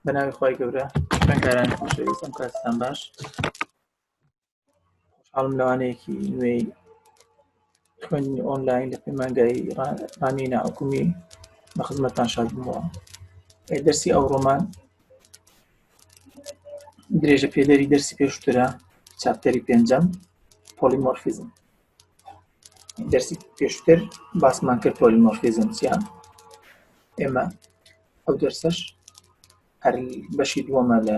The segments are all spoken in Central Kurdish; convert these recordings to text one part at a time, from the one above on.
بەناوی خی گەورە خوێنکارانی خۆشەویستم کاستان باش خۆشحاڵم لەوانەیەکی نوێی خوێندنی ئۆنلاین لە پەیمانگای ڕانیە ناحکومی بە خزمەتان شاد بووە دەرسی ئەو ڕۆمان درێژە پێدەری دەرسی پێشترە چاپتەری پێنجەم پۆلیمۆرفیزم دەرسی پێشتر باسمان کرد پۆلیمۆرفیزم چیان ئێمە ئەو دەرسەش هەر بەشی دووەمە لە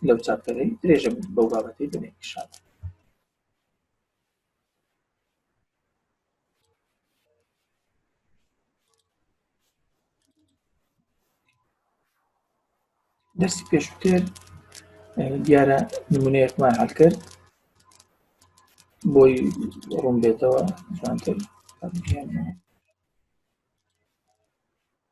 لەو چاپتەرەی درێژە بەو بابەتی بنێ شاد دەرسی پێشوتر دیارە نمونەیەکمان هەل کرد بۆی ڕوون بێتەوە جوانتر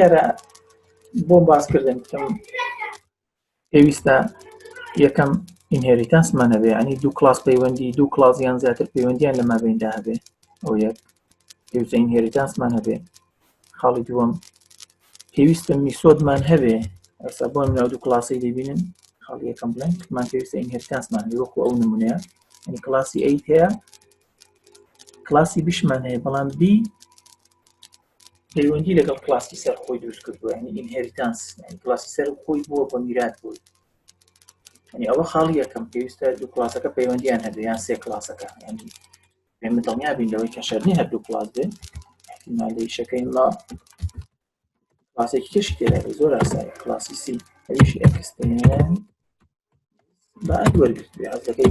یارە بۆ باسکردن بکەم پێویستە یەکەم ئینهێریتانسمان هەبێ ئەنی دوو کلاس پەیوەندی دوو کلاسیان زیاتر پەیوەندیان لە مابیندا هەبێ ئەو یەک پێویستە ئینهێریتانسمان هەبێ خاڵی دووەم پێویستە میسۆدمان هەبێ ئەسا بۆم ناو دوو کلاسی دەبینن خاڵی یەکەم بڵێن من پێویستە ئینهێریتانسمان هەبێ وەکو ئەو نمونەیە ئەنی کلاسی ئەیت هەیە کلاسی بشمان هەیە بەڵام بی پەیوەندی لەگەڵ کلاسی سەر خۆی دروست کردووە ینی ئینهریتانس کلاسی سەر خۆی بووە بە میرات بووی ینی ئەوە خاڵی یەکەم پێویستە دوو کلاسەکە پەیوەندیان هەبێ یان سێ کلاسەکە ینی پێمە دڵنیا بین لەوەی کە شەرنی هەردوو کلاس بێ مالەیشەکەی ما کلاسێکی کەشی تێدا زۆر ئاسای کلاسی سی ئەویش ئەکستێن بە ئەد وەرگرت بێ ئەزەکەی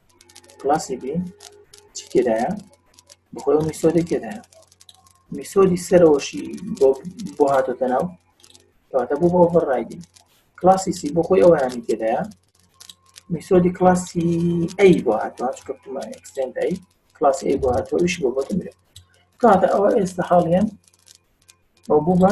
کلاسی بی چی تێدایە بەخۆی ئەو میسۆدەی تێدایە میسۆدی سەرەوەشی بۆ بۆ هاتۆتە ناو کەواتە بۆ بۆ ئۆڤەرڕایدی کلاسی سی بۆ خۆی ئەویانی تێدایە میسۆدی کلاسی ئەی بۆ هاتوە چکەمە ئەکسنت ئەی کلاسی ئەی بۆ هاتوەش بۆ بۆتە مرێت کاتە ئەوە ئێستا حاڵیان ئەو بوو بە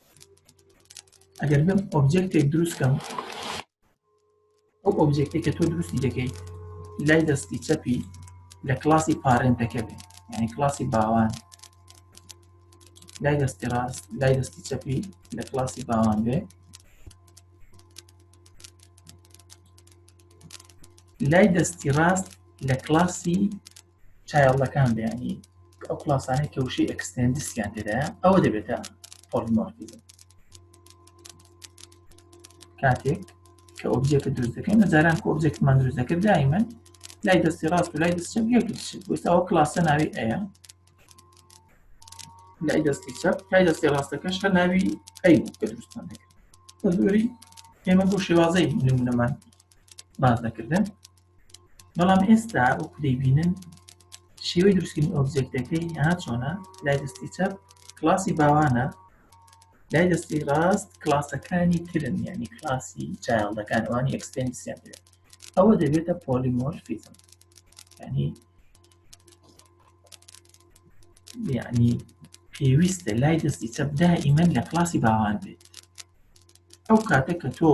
ئەگەر بم ئۆبجێکتێک دروست کەم ئەو ئۆبجێکتی کە تۆ دروستی دەکەیت لای دەستی چەپی لە کلاسی پارێنتەکە بێت یعنی کلاسی باوان لای دەستی ڕاست لای دەستی چەپی لە کلاسی باوان بێ لای دەستی ڕاست لە کلاسی چایڵدەکان بەیانی ئەو کڵاسانەی کە وشەی ئەکستێندسیان تێدایە ئەوە دەبێتە پۆلیمۆرفیزم کاتێک کە ئۆبجێکت دروست دەکەین لە جاران کە ئۆبجێکتمان دروست دەکرد دایمەن لای دەستی ڕاست و لای دەست چەپ یەک دەشت بۆستا ئەو کلاسە ناوی ئەیە لای دەستی چەپ لای دەستی ڕاستەکەش هەر ناوی ئەی کە دروستمان دەکرد بە زۆری ئێمە بۆ شێوازەی نمونەمان باز دەکردن بەڵام ئێستا وەکو دەیبینن شێوەی دروستکردنی ئۆبجێکتەکەی ها چۆنە لای دەستی چەپ کلاسی باوانە لای دەستی ڕاست کلاسەکانی ترن یعنی کلاسی چایڵدەکان ئەوانی ئەکسپێنسیان دێت ئەوە دەبێتە پۆلیمۆرفیزم ینی یعنی پێویستە لای دەستی چەپ دائیمەن لە کلاسی باوان بێت ئەو کاتە کە تۆ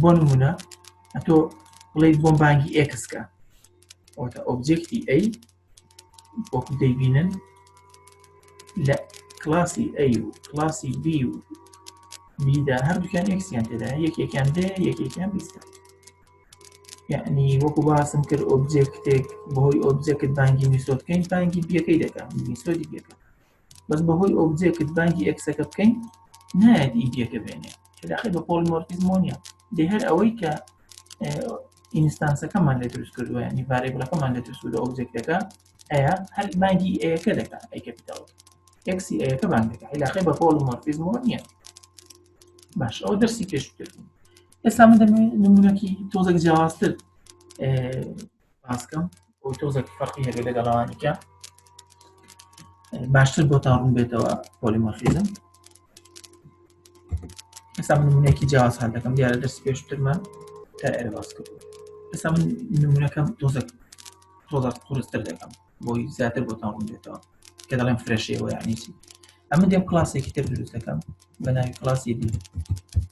بۆ نمونە ئەتۆ بڵێ بۆم بانگی ئێکسکە ئەوتە ئۆبجێکتی ئەی وەکو دەیبینن لە کلاسی ئەی و کلاسی بی و بیدا هەردووکیان ئەکسیان تێدا یەکێکیان دێ یەکێکیان بیستە یعنی وەکو باسم کرد ئۆبجێکتێک بەهۆی ئۆبجێکت بانگی میسۆدکەین بانگی بیەکەی دەکەم میسۆدی بیەکەم بەس بەهۆی ئۆبجێکت بانگی ئێکسەکە بکەین نایەت ئیدیەکە بێنێ کەداخی بە پۆلمۆرفیزمۆ نیە لێ هەر ئەوەی کە ئینستانسەکەمان لە دروست کردووە ینی ڤارێبلەکەمان لە دروست لە ئۆبجێکتەکە ئەیە هەر بانگی ئەیەکە دەکە ئەی کەپیتال ئەکسی ئەیەکە بانگ دەکە عیلاقی بە پۆلمۆرفیزمۆ نیە باش ئەو دەرسی پێشتر ئێستا من دەمێ نمونونەکی تۆزێک جیاوازتر باسکەم بۆ تۆزێک فەرقی هەبێت لەگەڵ ئەوانیکە باشتر بۆ تاڕون بێتەوە پۆلیمۆفیزم ئێستا من نمونەیەکی جیاواز هەر دەکەم دیارە دەست پێشترمان تا ئێرە باس کرد ئێستا من نمونونەکەم تۆزەک تۆزە قورستر دەکەم بۆی زیاتر بۆ تاڕون بێتەوە کە دەڵێم فرەشەوە یانیسی ئەمە دێم کلاسێکی تر دروست دەکەم بە ناوی کلاسی دی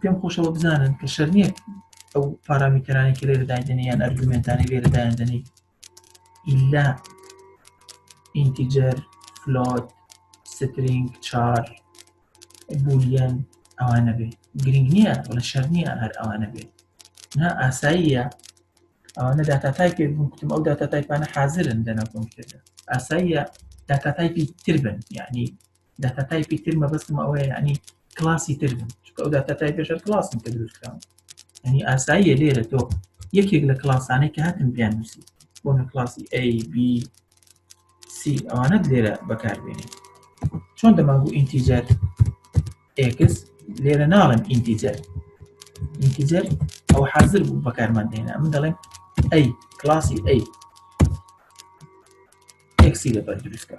پێم خۆشەوە بزانن کە شەرنیە ئەو پارامیتەرانی کە لێرە دایدنی یان ئەرگومنتانی لێرە دایدنی ئیلا ئینتیجەر فلۆت سترینگ چار بولیەن ئەوانە بێ گرنگ نییە لە شەر نییە هەر ئەوانە بێت نا ئاساییە ئەوانە داتا تای پێ بوون کوتم ئەو داتا تایپانە حازرن دەنا کۆمپیوتەر ئاساییە داتا تایپی تر بن یعنی داتا تایپی تر مەبەستم ئەوەیە یعنی کلاسی تر بن چکە ئەو داتا تایپێش هەر کلاسن کە دروست کراون یعنی ئاساییە لێرە تۆ یەکێک لە کلاسانەی کە هاتن بیان نووسی بۆ نە کلاسی A B C ئەوانەت لێرە بەکاربێنێت چۆن دەماگو ئینتیجەر ئێکس لێرە ناڵێم ئینتیجەر ئینتیجەر ئەو حاضر بوو بەکارمان دێنا من دەڵێم ئەی کلاسی ئەی ئێکسی لەبەر دروستکە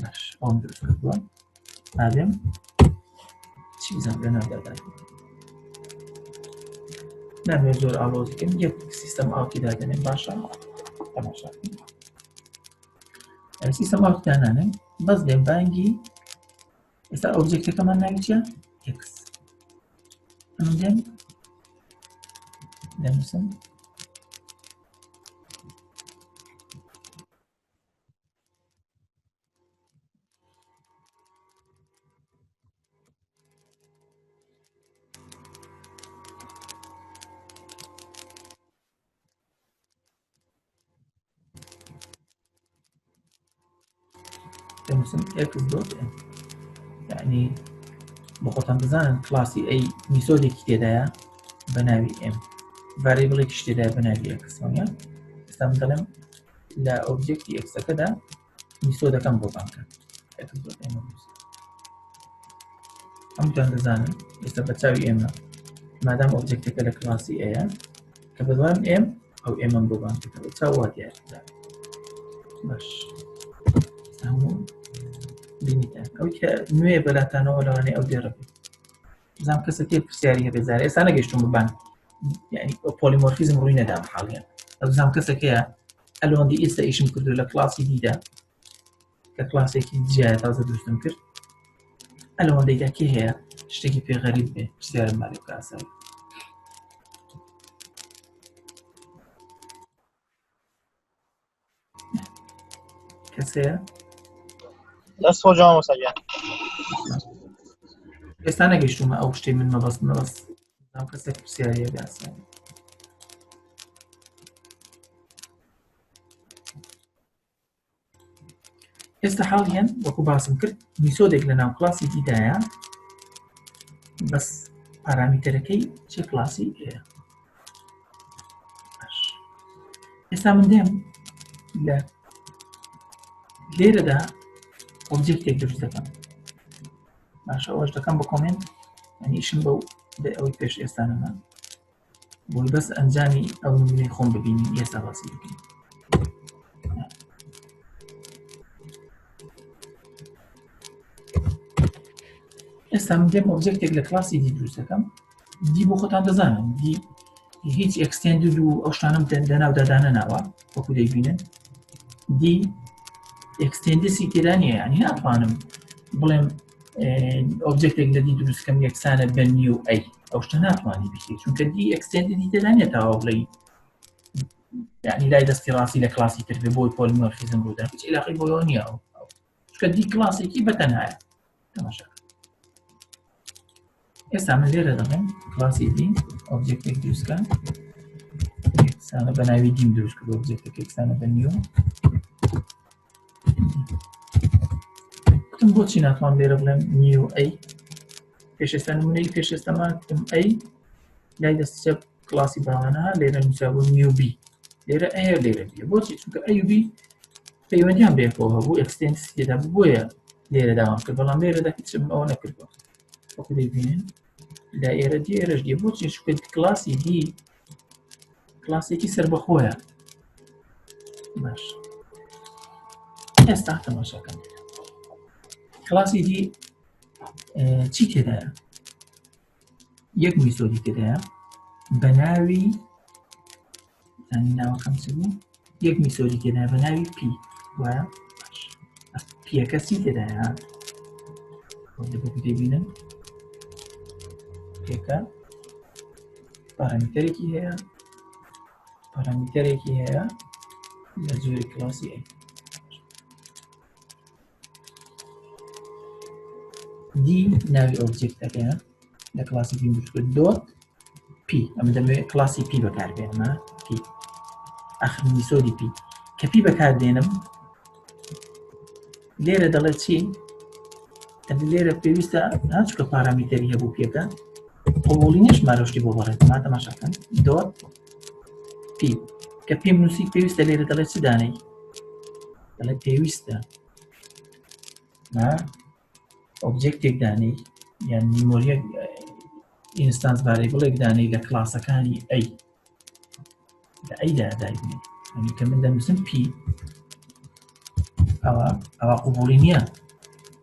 باش ئەوم دروست کردووە ئادێم چی بزان لە ناودادا نامێ زۆر ئاڵۆزیکەم یەک سیستەم ئاوتی دادێنێ باشە تەماشا سیستەم ئاوتی دانانێ بەس لێ بانگی ئێستا ئۆبجێکتەکەمان ناوی چیە ئکس ئەمە دێن دەنووسم دەنووسم ئێکس دۆت یعنی بۆ خۆتان بزانن کلاسی ئەی میسۆدێکی تێدایە بە ناوی ئێم ڤریبڵێکی تێدای بە ناوی ئێکسۆنە ئێستا دەڵێم لە ئۆبجێکتی ئێکسەکەدا میسۆدەکەم بۆ بانکە ئەمتان دەزانن ئێستا بە چاوی ئێمە مادام ئۆبجێکتەکە لە کلاسی ئەیە کە بەدوام ئێم ئەو ئێمەم بۆ بانکەکە بە چاوا دیاردا باش هەموو بینیتان ئەو کە نوێ بەلاتانەوە لەوانەیە ئەو دێڕە بێت زام کەسە تێ پرسیاری هەبێ زارە ئێستا نەگەشتم ببان یعنی پۆلیمۆرفیزم ڕووی نەدام حاڵیان ئەزام کەسەکەیە ئەلۆندی ئێستا ئیشم کردو لە کلاسی دیدا کە کلاسێکی جیایە تازە دروستم کرد ئەلەوەندەیدا کێ هەیە شتێکی پێغەریب بێ پرسیارم مالێ کاسایی کەسەیە دەست خۆ جوان وسەگە ئێستا نەگەشتومە ئەو شتێ من مەبەست مەبەست ناو کەسێک پرسیارە گاسە ئێستا حاڵیان وەکو باسم کرد میسۆدێک لە ناو کلاسی دیدایە بەس پارامیتەرەکەی چ کلاسی ئەیە ئێستا من دێم لە لێرەدا ئۆبجێکتێک دروست دەکەم باشە ئەوش دەکەم بە کۆمنت ئەنیشم بەو بێ ئەوەی پێش ئێستانەمان بۆی بەس ئەنجامی ئەو نمونەی خۆم ببینین ئێستا باسی بکەین ئێستا من دێم ئۆبجێکتێک لە کلاسی دی دروست دەکەم دی بۆ خۆتان دەزانن دی هیچ ئەکسستێند و ئەو شتانم دەناودا دانەناوە وەکو دەیبینن دی ئەکسستێندسی تێدا نیە ینی ناتوانم بڵێم ئۆبجێکتێک لە دی دروستکەم یەکسانە بە نی و ئەی ئەو شتە ناتوانانی بکرێت چونکە دی ئەکسستێندی دی تێدا نیە تاوا بڵێی ینی لای دەستی ڕاستی لە کلاسی تر بۆی پۆلمۆرفیزم بوودا هیچ علاقی بۆەوە نیە چکە دی کلاسێکی بەتەنایە تەماشا ئێستا من لێرە دەڵێم کلاسی دی ئۆبجێکتێک دروستکە ئێکسانە بە ناوی دیم دروست کرد ئۆبجێکتێک ئێکسانە بە نیو وتم بۆچی ناتوان لێرە بڵێم نیو ئەی پێشێستا نمونەی پێشێستەمان وتم ئەی لای دەست چەپ کلاسی باوانە لێرە نووسابوو نیو بی لێرە ئەیە لێرە بیە بۆچی چونکە ئەیوبی پەیوەندیان بەیەکەوە هەبوو ئەکسستێنسی دا بۆیە لێرە داوام کرد بەڵام لێرەدا هیچم ئەوە نەکردوە وەکو دەبینن دا ئێرە دی ئێرەش دی بۆچی شکرد کلاسی دی کلاسێکی سربەخۆیە باش ئێستا تەماشاکەم کلاسی دی چی تێدایە یەک میسۆدی تێدایە بە ناوی زانی ناوەکەم چ بوو یەک میسۆدی تێدا بە ناوی پی وایە پیەکە سی تێدایە دەبینن پێکە پارامتەرێکی هەیە پارامتەرێکی هەیە لە جۆری کلاسی ئەی دی ناوی ئۆبجێکتەکە لە کلاسی پی بچکرد دۆت پی ئەم دەمەوێت کلاسی پی بەکاربێنمە پی ئەخنی سۆدی پی کە پی بەکاردێنم لێرە دەڵێت چی لێرە پێویستە ناچکە پارامیتەری هەبوو پێەکە قوڵی نیش مارۆشتی بۆ بەڕێت ما تەماشاکەن دۆت پیم کە پیم نووسی پێویستە لێرە دەڵێت چ دانەی دەڵێت پێویستە ئۆبجێکتێک دانەی یان میمۆریە ئینستانس بارەی بڵێک دانەی لە کلاسەکانی ئەی لە ئەیدا دایبنی ئەنی کە من دەنووسم پی ئەوە ئەوە قوبولی نییە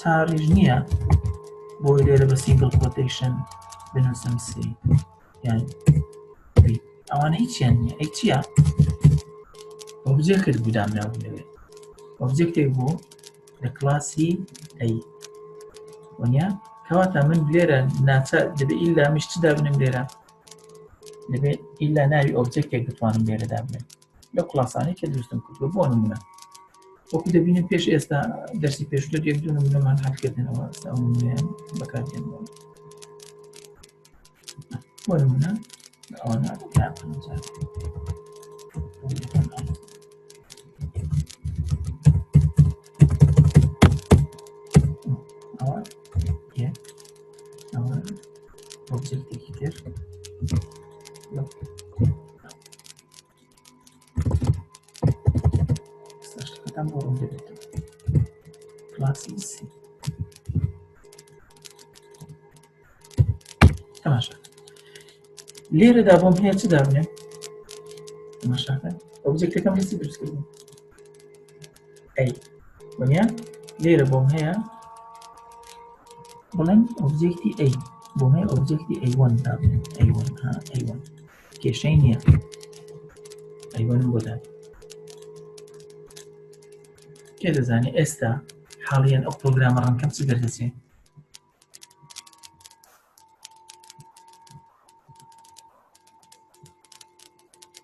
چاڕیش نییە بۆی لێرە بە سینگڵ پۆتەیشن بنووسم سی یان ئەوانە هیچیان نیە ئەی چییە ئۆبجێ کرد بودام ناوێت ئۆبجێکتێک بوو لە کلاسی ئەی وەنیا کەواتە من لێرە ناچە دەبێت ئیلا مشت دابنم لێرە دەبێت ئیلا ناوی ئۆبجێکتێک بتوانم لێرە دابنێت لە کلاسانی کە دروستم کردوە بۆ نمونە وەکو دەبینن پێش ئێستا دەرسی پێشتر یەک دوو نمونەمان هەڵکردنەوە بەکارێنەوە بۆ نمونە ئەوانە لێرەدا بۆم هەیە چ دابنێ ئۆبجێکتەکەم هەستی دروستکردن ئەی وەنیا لێرە بۆم هەیە بڵێن ئۆبجێکتی ئەی بۆ هەیە ئۆبجێکتی ئەیوان دابنێ ئەیوان ئەیوان کێشەی نییە ئەیوەنم بۆدان کێ دەزانێت ئێستا حاڵیان ئەو پرۆگرامە ڕەنکەم چ دەردەچێ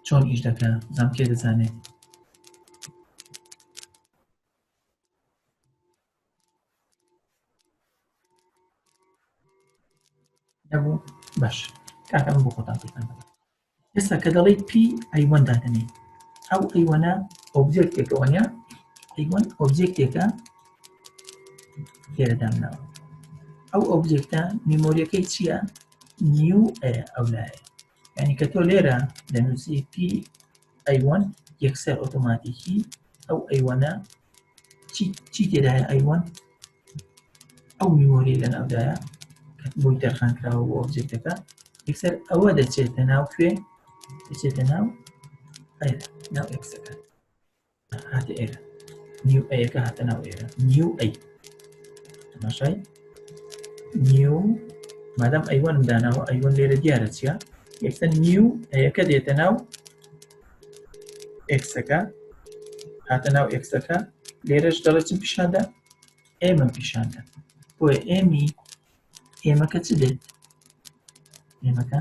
چۆن ئیش دەکە زانکێ دەزانێت نەبوو باش کاکەم بۆ خۆتان پێتان ئێستا کە دەڵی پی ئەیوەن دادەنێ ئەو ئەیوەنە ئۆبجێکتێکە وانە ئەیوەن ئۆبجێکتێکە لێرەدامناوە ئەو ئۆبجێکتە میمۆریەکەی چییە نیو ئەو لایە ینی کە تۆ لێرە لە نووسی پی ئەیوەن یەکسەر ئۆتۆماتیکی ئەو ئەیوەنە چی تێدایە ئەیوەن ئەو میمۆری لە ناودایە بۆی دەرخان کراوە بۆ ئۆبجێکتەکە یەکسەر ئەوە دەچێتە ناو کوێ دەچێتە ناو ناو ئەکسەکە هاتە ئێرە نیو ئەیەکە هاتە ناو ئێرە نیو ئەی تەماشای نیو مادەم ئەیوەنم داناوە ئەیوەن لێرە دیارە چیە ئێستا نیو ئەیەکە دێتە ناو ئێکسەکە هاتە ناو ئێکسەکە لێرەش دەڵێتم پیشاندا ئێمە پیشاندا بۆیە ئێمی ئێمەکە چ دێت ئێمەکە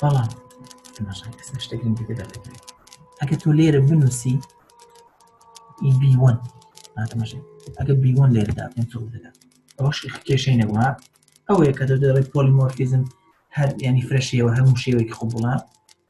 بەڵام ئێستا شتێکم دیکە دەکرێت ئەگە تۆ لێرە بنووسی بیوەن ناتمەشێت ئەگە بیوەن لێرەدا پێنج دەدا ئەوش کێشەی نەبووە ئەوەیە کە دەدەڵێت پۆلیمۆرفیزم هەر ینی فرەشیەوە هەموو شێوەیەکی خۆ بڵە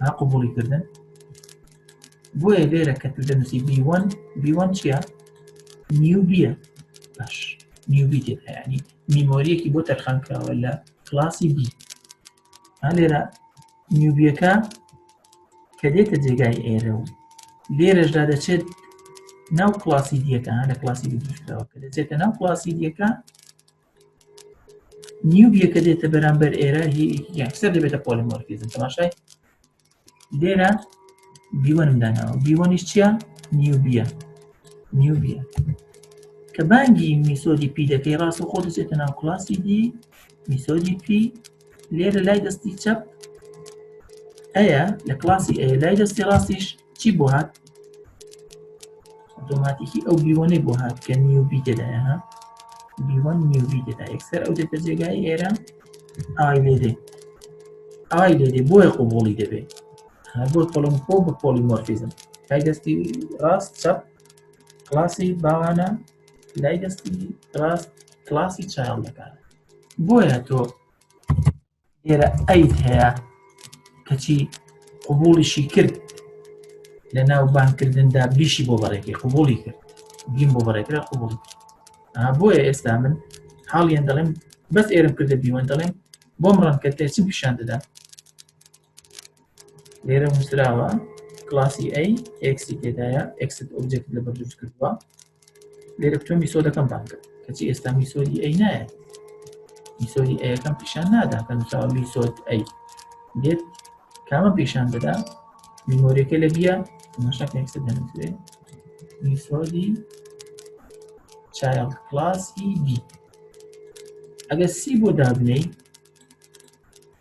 ها قبولی کردن بۆیە لێرە کە تو دەنووسی بیوان بیوان چییە نیوبیە باش نیوبی تێت هەیەنی میمۆریەکی بۆ تەرخان کراوە لە کلاسی بی ها لێرە نیوبیەکە کە دێتە جێگای ئێرە و لێرەشدا دەچێت ناو کلاسی دیەکە لە کلاسی دیکراوە کە دەچێتە ناو کلاسی دیەکە نیوبیە کە دێتە بەرامبەر ئێرە یەکسەر دەبێتە پۆلیمۆرفیزم تەماشای لێرە بیوەنم داناوە بیوەنیش چییە نیوبیە نیوبیە کە بانگی میسۆدی پی دەکەی ڕاست و خۆ دەچێتە ناو کلاسی دی میسۆدی پی لێرە لای دەستی چەپ ئەیە لە کلاسی ئەیە لای دەستی ڕاستیش چی بۆ هات ئۆتۆماتیکی ئەو بیوەنەی بۆ هات کە نیوبی تێدایە ها بیوەن نیوبی تێدا یەکسەر ئەو دێتە جێگای ئێرە ئای لێ دێ ئای لێ دێ بۆیە قوبوڵی دەبێت بۆ پۆڵم خۆ بە پۆڵی مۆرفیزم لای دەستی ڕاست چەپ کلاسی باوانە لای دەستی ڕاست کلاسی چاڵ دەکات بۆیە تۆ لێرە ئەیت هەیە کەچی قوبوڵیشی کرد لە ناو بانکردندا بیشی بۆ بەڕێکی قوبولی کرد بیم بۆ بەڕێکرا قوبڵ بۆیە ئێستا من حاڵیان دەڵێم بەس ئێرم کردە بیوەن دەڵێم بۆم ڕەنکە تێچم پیشان دەدا لێرە نووسراوە کلاسی ئەی ئێکسی تێدایە ئێکست ئۆبجێکت لەبەر دروست کردووە لێرە تۆ میسۆدەکەم بان کرد کەچی ئێستا میسۆدی ئەی نایە میسۆدی ئەیەکەم پیشان نادا کە نووسراوە میسۆد ئەی دێت کامە پیشان دەدا میمۆریەکە لە بیە مەشەک ئێکست دەنووسێ میسۆدی چایڵد کلاسی بی ئەگەر سی بۆ دابنەی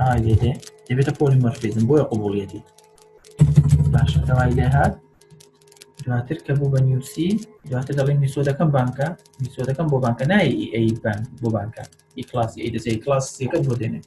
ئای دێ دەبێتە پۆلی مەرفیزم بۆیە قوبوڵیەتی باشە داوای لێ هات دواتر کە بوو بە نیوسی دواتر دەڵێ میسۆدەکەم بانکە میسۆدەکەم بۆ بانکە نای ئەی بان بۆ بانکە ئی کلاسی ئەی دەزێ کلاس سیەکەت بۆ دێنێت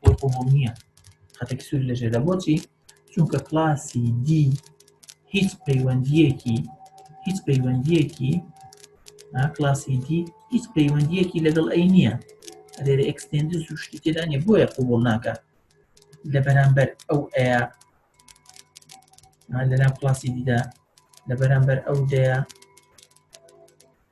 بۆ قبول نییە خەتێکی سوور لە ژێرە بۆچی چونکە کلاسی دی هیچ پەیوەندیەکی هیچ پەیوەندیەکی کلاسی دی هیچ پەیوەندیەکی لەگەڵ ئەی نییە ئەێرە ئەکسستێندز و شتی تێدا نیە بۆیە قوبڵ ناکە لە بەرامبەر ئەو ئەیە لەناو کلاسی دیدا لە بەرامبەر ئەو دەیە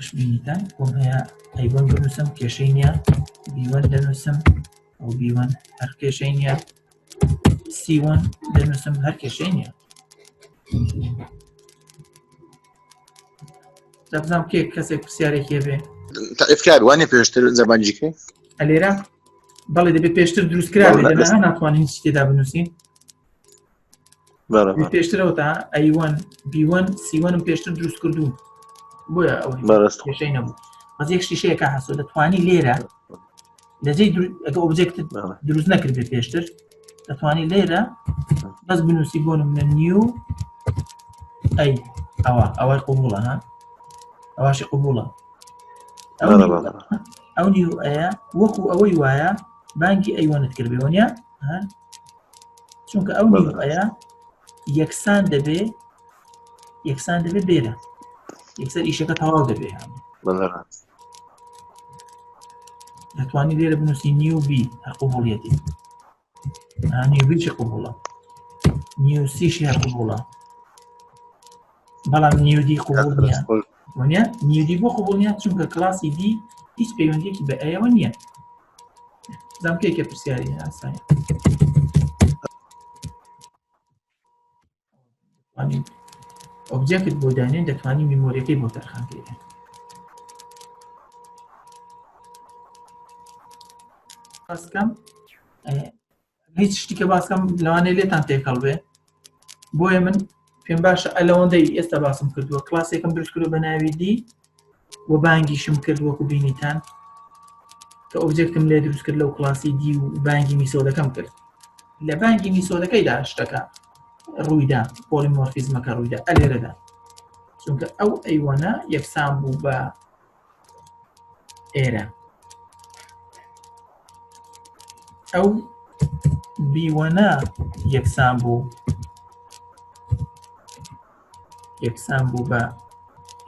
خۆشبینیتان بۆم هەیە ئەیوەن بنووسم کێشەی نییە بیوەن دەنووسم ئەو بیوەن هەر کێشەی نییە سیوەن دەنووسم هەر کێشەی نییە دەبزانام کێ کەسێک پرسیارێکی هەبێ تاعفکار وانێ پێشتر زەبانجیکە ئەلێرە بەڵێ دەبێت پێشتر دروستکرا ناتوانین تێدا بنووسین پێشترەوە تا ئەیوان بیوان سیوانم پێشتر دروست کردوون بۆیە ئەو بەڕستشەی نەبوو بەس یەک شیشەیەکە هەسۆ دەتوانی لێرە لەجێ ئەگە ئۆبجێکت دروست نەکرد بێ پێشتر دەتوانی لێرە بەس بنووسی بۆ منە نیو ئەی ئەوە ئەوەی قوبوڵە ها ئەواشی قوبوڵە ئەو نیو ئەیە وەکو ئەوەی وایە بانگی ئەیوانت کردێەوەە چونکە ئەو نیوەیە یەکسان دەبێ یەکسان دەبێ بێرە یەکسەر ئیشەکە تەواو دەبێ دەتوانی لێرە بنووسی نیو بی قوبوڵەتی نیوبیی قوبوڵە نیوسیش هەیە قوبوڵە بەڵام نیودی قوبول وانە نیدی بۆ قبول نیە چونکە کلاسی دی هیچ پەیوەندیەکی بە ئەوە نییە زانکەیەکە پرسیاری ئاسانی ئۆبجێکت بۆ دانێن دەتوانانی میمۆریەکەی بۆ تەرخان کرێن بەسکەم هیچ شتیکە باسکەم لەوانەیە لێتان تێکەڵ بێ بۆیە من پێم باشە ئەلەوەندەی ئێستا باسم کردووە کلاسێکم درست کردو بە ناوی دی و بانگیشم کرد وەکو بینیتان کە ئۆبجێکتم لێ دروست کرد لەو کلاسی دی و بانگی میسۆدەکەم کرد لە بانگی میسۆدەکەیدا شتەکە ڕوویدا پۆلیمۆرفیزمەکە ڕوویدا ئەلێرەدا چونکە ئەو ئەیوەنە یەکسان بوو بە ئێرە ئەو بیوەنا یەکسان بوو یەکسان بوو بە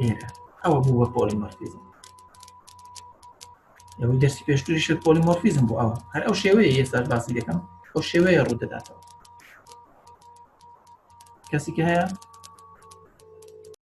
ئێرە ئەوە بوو بە پۆلیمۆرفیزم ئەوەی دەرسی پێشتری شت پۆلیمۆرفیزم بوو ئەوە هەر ئەو شێوەیە ئێستا باسی دەکەم ئەو شێوەیە ڕوو دەداتەوە کەسیکە هەیە